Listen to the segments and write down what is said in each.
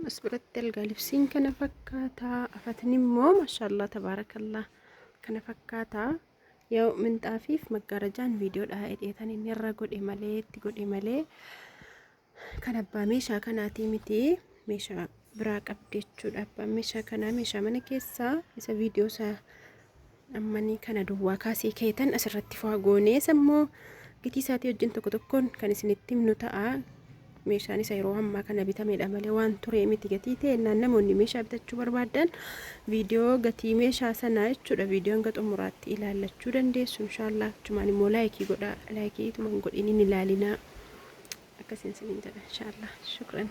as biratti algaa libsiin kana fakkaata afatni immoo maashaallah tabaarakallah kana fakkaata yoo minxaafiif maggaarajaan viidiyoodha hidheetan inni irra godhe malee itti godhe malee kan abbaa meeshaa kanaatii miti meeshaa biraa qabdi jechuudha abbaan meeshaa kanaa meeshaa mana keessaa isa viidiyoo isaa Ammanii kana duwwaa kaasii keetan asirratti faa goonee sammoo gitii isaatii wajjin tokko tokkoon kan isinitti himnu ta'a. Meeshaan isa yeroo ammaa kana bitamedha malee waan turee miti gatii ta'e naan namoonni meeshaa bitachuu barbaadan viidiyoo gatii meeshaa sanaa jechuudha viidiyoo hanga xumuraatti ilaallachuu dandeessu inshaallah achumaan immoo laayikii godhaa laayikii ituman godhiniin ilaalinaa akkasiin siniin jedha inshaallah shukran.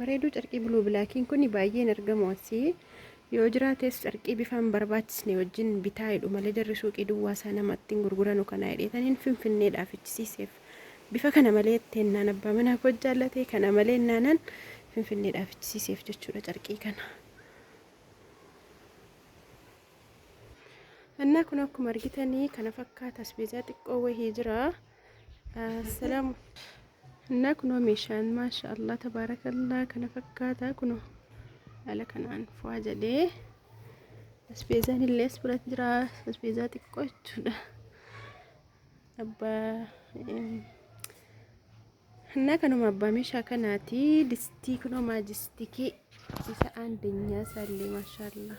bareeduu carqii buluu bilaakiin kun baay'een argamu asii yoo jiraates carqii bifaan barbaachisne wajjin bitaa jedhu malee jarri suuqii duwwaa isaa namatti hin gurguranu kana hidheetaniin finfinneedhaa fichisiiseef bifa kana malee teennaan abbaa manaa koo jaallatee kana malee naanan finfinneedhaa fichisiiseef jechuudha carqii kana. Annaa kun akkuma argitanii kana fakkaata asbeezaa xiqqoo wahii jira. Assalamu Innaa kunoo meeshaan maasha Allah tabaarakallaa kana fakkaata kunoo haala kanaan fu'aa jedhee asbeezaan illee as biratti jira asbeezaa xiqqoo jechuudha abbaa innaa kanuma abbaa meeshaa kanaati distii kunoo maajistikii isa aandenyaa isaallee maasha Allah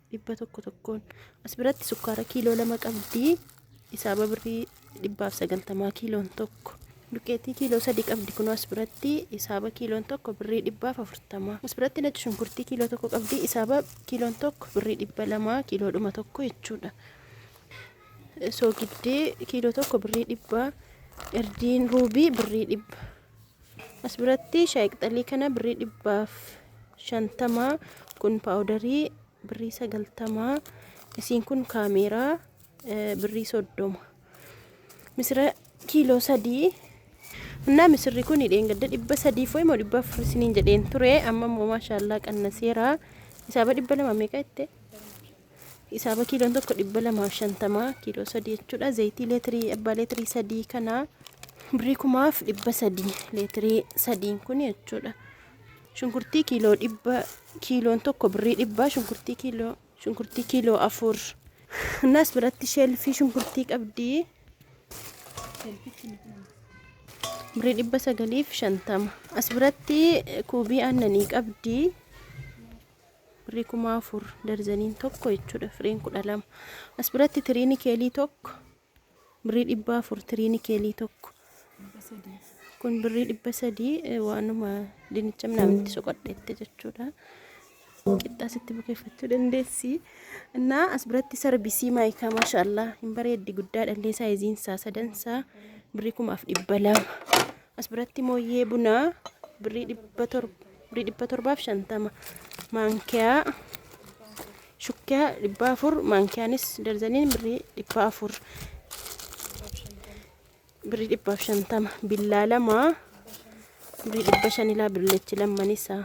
dhibba tokko tokkoon as biratti sukkaara kiiloo lama qabdi isaaba birrii dhibbaaf sagaltamaa kiiloon tokko duqeetii kiiloo sadii qabdi kunoo as biratti isaaba kiiloon tokko birrii dhibbaaf afurtamaa as biratti nacci shunkurtii kiiloo tokko qabdi isaaba kiiloon tokko birrii dhibba lamaa kiiloo dhuma tokko jechuudha soogiddee kiiloo tokko birrii dhibbaa erdiin ruubii birrii dhibba As biratti shaayii qixalii kana birrii dhibbaaf shantama kun paawudarii birrii sagaltama isiin kun kaameeraa eh, birrii soddoma misira kiiloo sadii Innaa misirri kun dheengadda dhibba sadii fo'e moo dhibba afur isiniin jedheen ture amma immoo maashaallaa qannaseera isaaba dhibba lama meeqa jette Hisaaba kiiloon tokko dhibba lamaa fi shantama kiiloo sadii jechuudha. Zayitii leetirii abbaa leetirii sadii kana birrii kumaaf dhibba sadii leetirii sadiin kun jechuudha. Shunkurtii kiiloo dhibba kiiloon tokko birrii dhibba shunkurtii kiiloo shunkurtii kiiloo afur. Innaas biratti sheelfii shunkurtii qabdi. Birrii dhibba sagaliif shantama. As biratti kuubii aannanii qabdi. birrii 4000 darzaniin tokko jechuudha firiin 12 as biratti tiriini keelii tokko birrii 400 tiriini keelii tokko kun birrii 300 waanuma dinicha minaaminti soqadheette jechuudha qixxaa sitti bukeeffachuu dandeessi innaa as biratti sarbisii maayikaa maashaallah hin bareeddi guddaa dhallee saayiziin isaa sadan isaa birrii 1200 as biratti mooyyee bunaa birrii 700 Birrii dhibba torbaaf shantama. Maankiyaa shukkiyaa dhibba afur. Maankiyaanis darzaniin birrii dhibba afur. Birrii dhibbaaf shantama. Billaa lama birrii dhibba shanilaa billeechi lamman isaa.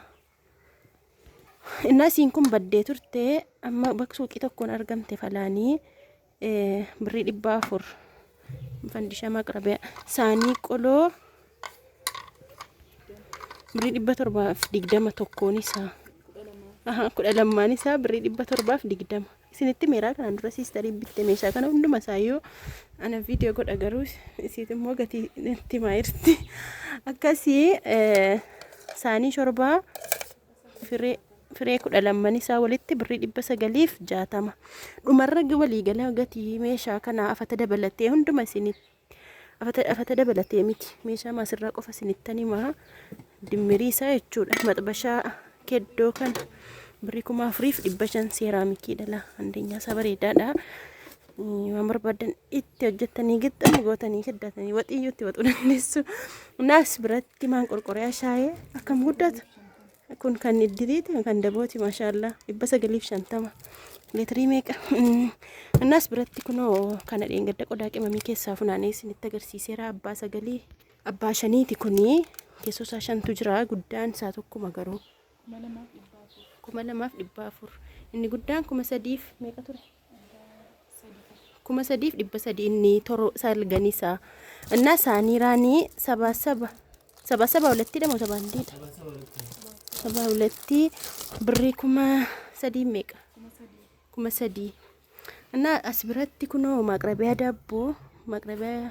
Innaa isiin kun baddee turte amma bakka suuqii tokkoon argamte falaanii. Birrii dhibba afur. Fandishaa maqrabiyaa. Saanii qoloo. Birrii dhibba torbaaf digdama tokkoon isaa. Aha, kudha lammaan isaa birrii dhibba torbaaf digdama. Isinitti meeraa kanaan dura siistarii bitte meeshaa kana hunduma isaa yoo ana viidiyoo godha garuu isiit immoo gatii itti maayirti. Akkasii saanii shorbaa Firee, firee kudha lamman isaa walitti birrii dhibba sagaliif jaatama. Dhumarra waliigala gatii meeshaa kanaa afata dabalatee hunduma isinit afata, afata dabalatee miti meeshaa maasirraa qofa isinittan himaa dimmirii isaa jechuudha. Maxbashaa keddoo kana birrii kuma afuriif dhibba shan seeraamikii dhala andeenyaa isaa bareedaadha. Waan barbaadan itti hojjettanii gixxan gootanii keddatanii waxiyyuu itti waxuu dandeessu. Naas biratti Timaan qorqoreyaa shaayee akkam guddata. Kun kan iddiliiti kan dabooti maashaallaa dhibba sagaliif shantama leetirii meeqa. Annaas biratti kunoo kana dheengadda qodaa qimamii keessaa funaanee isinitti agarsiiseera abbaa sagalii abbaa shaniiti kunii keessoo isaa shantu jira guddaan isaa tokkuma garuu. Kuma lamaaf dhibbaa afur. Inni guddaan kuma sadiif meeqa ture? kuma sadiif dhibba sadii inni toro salganii isaa innaa isaanii raanii sabaa saba sabaa saba walattii dhamo sabaa hindiidha sabaa walattii birrii kuma sadii meeqa kuma sadii innaa as biratti kunoo maaqrabiyaa daabboo maaqrabiyaa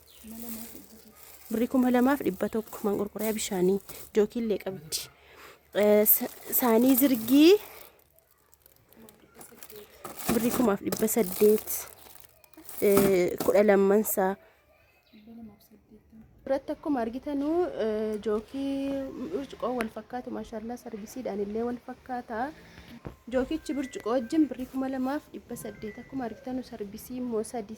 birrii kuma lamaaf dhibba tokko manqorqoriyaa bishaanii jookiillee qabdi. Eh, sa- Saanii zirgii birrii kumaaf dhibba saddeet eh, kudha lamman isaa. Irratti akkuma argitanu eh, jookii burcuqoo wal fakkaatu maashaallah sargisiidhaan illee wal fakkaata. Jookichi burcuqoo wajjin birrii kuma lamaaf dhibba saddeet akkuma argitanu sarbisii immoo sadii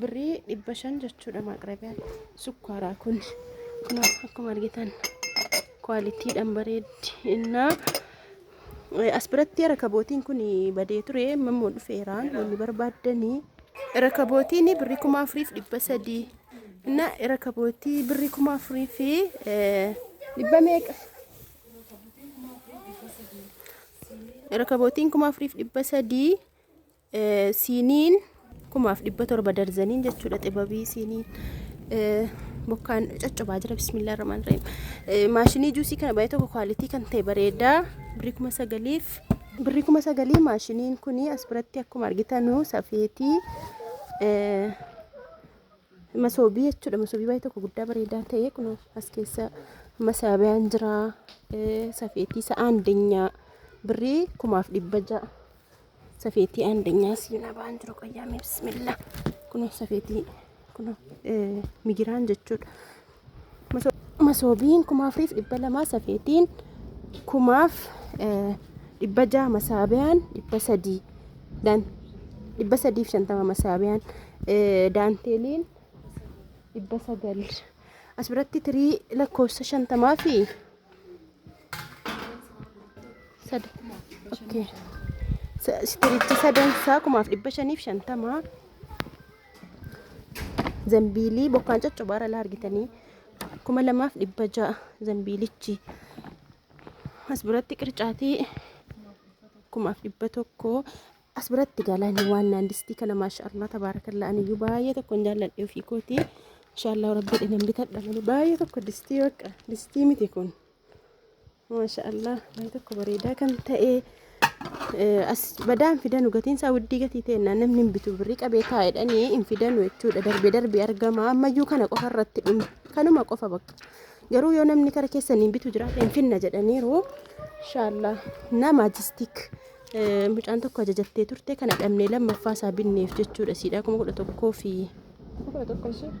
birrii dhibba shan jechuudha maaqrabiyaan sukkaaraa kun kun akkuma argitan kwaalitiidhaan bareeddi innaa as biratti rakabootiin kun badee ture mammoo dhufeeraan wanni barbaaddanii rakabootiin birrii kuma afuriif dhibba sadii inna rakabootii birrii kuma afurii fi dhibba meeqa rakabootiin kuma afuriif dhibba sadii siiniin kumaaf dhibba torba darzaniin jechuudha xibabii siiniin bokkaan coccobaa jira bismillah rahmaan rahim maashinii juusii kana baay'ee tokko kwaalitii kan ta'e bareedaa birrii kuma sagaliif birrii kuma sagalii maashiniin kun as biratti akkuma argitanu safeetii masoobii jechuudha masoobii baay'ee tokko guddaa bareedaa ta'e kun as keessa masaabiyaan jira safeetii sa'aan dinyaa birrii kumaaf dhibba ja'a Safeetii andanyaa siinaa ba'an jiru qayyaamee bismillah. Kunoo safeetii kunoo migiraan jechuudha. Masoobiin kumaaf riif dhibba lamaa safeetiin kumaaf dhibba jaha masaabiyaan dhibba sadii daan dhibba sadiif shantama masaabiyaan daanteeliin dhibba sagal as biratti tirii lakkoofsa shantamaa fi Sad. Okay. Sa- Istirichi sadan isaa kumaaf dhibba shaniif shantama. Zambiilii bokkaan coccobaa irra argitanii kuma lamaaf dhibba ja'a zambiilichi. As biratti qircaatii kumaaf dhibba tokko As biratti galaani waan naan distii kana maashaallah tabaarakallaa aniyyuu baay'ee tokkon jaalladhe ofii kootii. Maashaallah rabbi dhinan bitadha malee baay'ee tokko distii bakka distii miti kun. Maashaallah baay'ee tokko bareedaa kan ta'e as badaan fidanu gatiin isaa widdii gatii ta'e namni hin bitu birrii qabee taa'edhanii hin fidanu jechuudha darbee darbee argama ammayyuu kana qofa irratti kanuma qofa bakka. Garuu yoo namni kara keessa niin bitu jiraate hin finna jedhaniiru. Inshaallaa nama jistik mucaan tokko ajajattee turte kana dhabnee lammaffaa isaa binneef jechuudha siidhaa kuma kudha tokkoo fi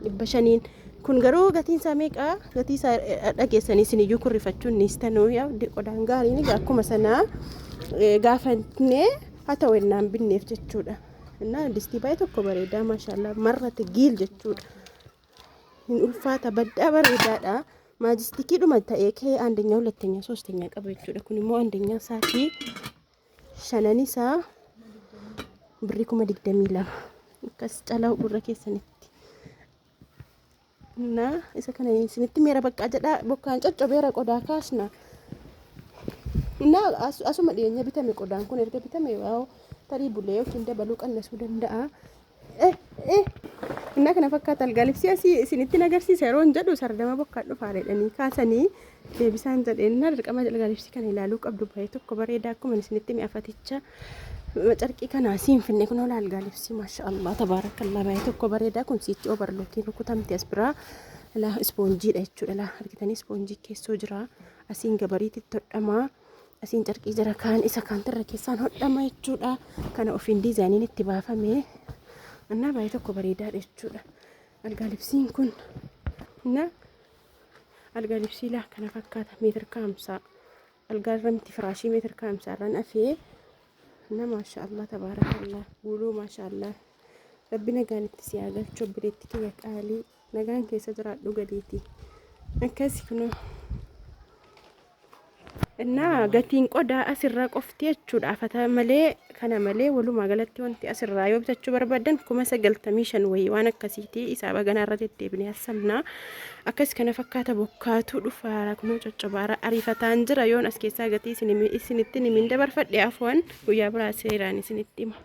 dhibba shaniin. Kun garuu gatiin isaa meeqa? Gatii isaa dhageessanii isin iyyuu kurrifachuun ni istanuu qodaan gaariin akkuma sanaa gaafannee haa ta'u ennaan binneef jechuudha. Innaa distii baay'ee tokko bareedaa maashaallah marrate giil jechuudha. hin ulfaata baddaa bareedaadha maajistikiidhuma ta'ee kee andeenya hulatteenya soosteenya qaba jechuudha kun immoo andeenya isaatii shanan isaa birrii kuma digdamii lama akkas calaa gurra keessanitti na isa kana isinitti meera baqqaa jedhaa bokkaan coccobeera qodaa kaasna na asuma dhiyeenya bitame qodaan kun erga bitame waa'oo tarii bulee yookiin dabaluu qannasuu danda'a Innaa kana fakkaata algaalibsii asii isinittiin agarsiisa yeroo hin jedhu sardama bokkaa dhufaa jedhanii kaasanii deebisaan jedheen innaa dirqama algaalibsii kana ilaaluu qabdu bahee tokko bareedaa akkuma isinitti mi'afaticha carqii kana asiin finne kun ola algaalibsii maasha Allah tabaarakallaa bahee tokko bareedaa kun siichi obarlookiin rukutamte as biraa ilaa ispoonjiidha jechuudha ilaa argitanii ispoonjii keessoo jira asiin gabariitti todhamaa Asiin carqii jira kaan isa kaantirra keessaan hodhama jechuudha. Kana ofiin diizaayiniin itti baafame. Annaa baay'ee tokko bareedaadha jechuudha. Algaa libsiin kun na algaa libsii laa kana fakkaata meetir kaamsaa. Algaa irra miti firaashii meetir kaamsaa irraan afee. Na maashaallah tabaarakallah guuluu maashaallah. Rabbi nagaan itti si haa galchu obboleetti kiyya qaalii. Nagaan keessa jiraadhu gadiiti. Akkasi kunoo. Innaa gatiin qodaa asirraa qofti jechuudha. Fata malee kana malee walumaa galatti wanti asirraa yoo bitachuu barbaadan kuma sagaltamii shan wayii waan akkasiiti isaa baganaa irra deddeebinee hassamnaa. Akkas kana fakkaata bokkaatu dhufaara kunoo coccobaara ariifataan jira yoon as keessaa gatii isin- isinittin himiin dabarfadhe afuwan guyyaa biraa seeraan isinitti hima.